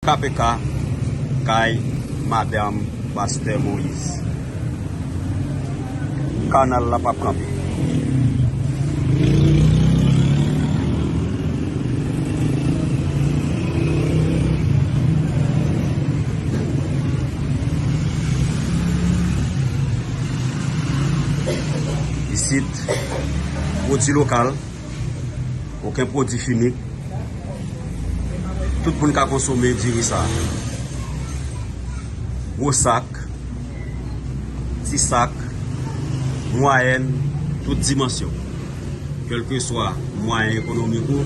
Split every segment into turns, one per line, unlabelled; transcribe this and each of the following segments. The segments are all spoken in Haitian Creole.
KPK kay madam pastè Moïse. Kanal la pap kanpe. Isit pwodi lokal. Oken pwodwi fini. Tout moun ka konsome diri sa. Gwo sak, ti sak, mwayèn, tout dimansyon. Kèlke swa mwayen ekonomik ou,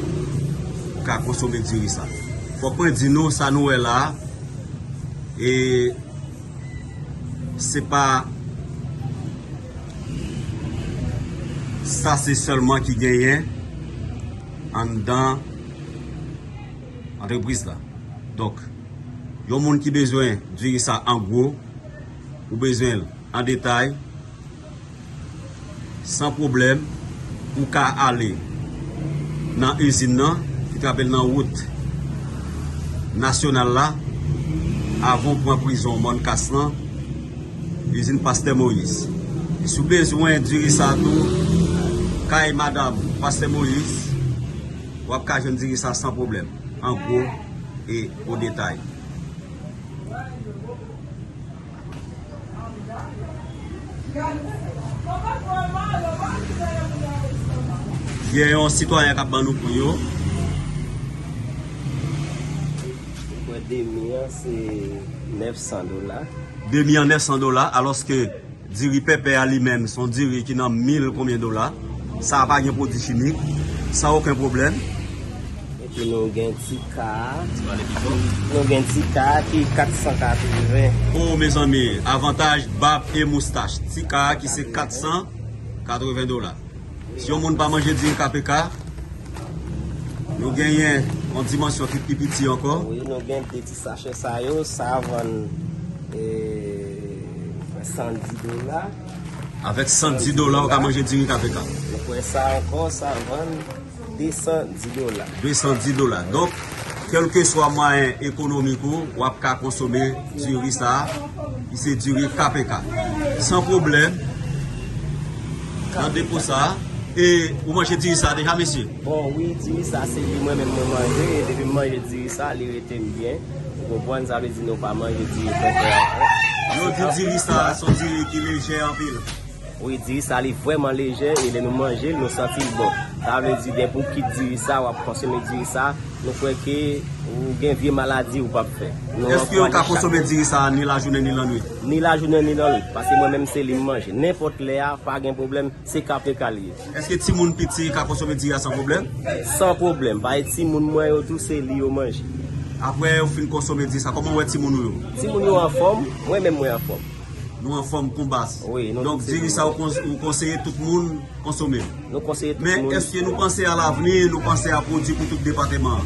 ou ka konsome diri sa. Fòk mwen di nou sa nou wè la, e... se pa sa se sèlman ki genyen anndan antrepriz la. Donk, yon moun ki bezwen diri sa an gwo, ou bezwen l an detay, San pwoblèm, ou ka ale nan izin nan ki trape nan wout nasyonal la avan ou pran prizon Mòn Kas lan, izin Pastè Moyiz. Si ou bezwen diri sa tou, kay madanm Pastè Moyiz, w ap ka jwenn diri sa san pwoblèm, an gwo e o detay. Gen yon sitwayen k ap ban nou kou yo.
Mwen demi an se 900 dola. Demi
an 900 dola alòske diri pèpè a li menm son diri ki nan 1000 konbyen dola. Sa a pa gen pwodui chimik, san oken pwoblèm.
Epi nou gen ti ka a. Ti pale pi fò. Nou gen ti ka a ki 480. Oh
mezanmi avantaj bab e moustach ti ka a ki se 480 dola. Si yon moun pa manje di kpk nou genyen yon dimansyon ki pi piti ankò. Wi nou gen 2 ti
sachè sa yo. Sa a vann 110 dola.
Avèk 110 dola ou ka manje diri kpk. Ou kwè sa ankò
sa vann. 210 dola. 210
dola. Donk, kèlkeswa mwayen ekonomik ou, w ap ka konsome diri sa a, ki se diri KPK. San pwoblèm, nan depo sa a, e ou manje diri sa a deja, mesye? Bon, wi, diri sa
a se li mwen menm mwen manje, e depi m manje diri sa a, li rete m byen. Ou konprann? Sa vle di nou pa manje diri fèfè ankò. Yo di
diri sa a se yon diri ki lejè anpil. Wi diri sa
li vrèman lejè e lè nou manjel nou santil bon sa vle di depi ou kit diri sa wap konsome diri sa nou kwè ke ou gen vye maladi ou pap fè nou ankò chak Eske ou ka konsome
diri sa ni lajounen ni lannwit? Ni lajounen ni lannwit
paske mwen menm se li m manje nenpòt lè a pa gen pwoblèm se KPK li ye. Eske timoun piti
ka konsome diri a san pwoblèm? San pwoblèm
paske timoun mwen yo tou se li yo manje. Aprè ou fin
konsome diri sa kòman ou wè timoun ou yo? Timoun yo anfòm
mwen menm mwen anfòm. Nou anfòm kon
baz. Donk diri sa ou konseye tout moun konsome l. Men eske
nou
panse
a
lavni,
nou
panse a pwodui pou tout depateman an?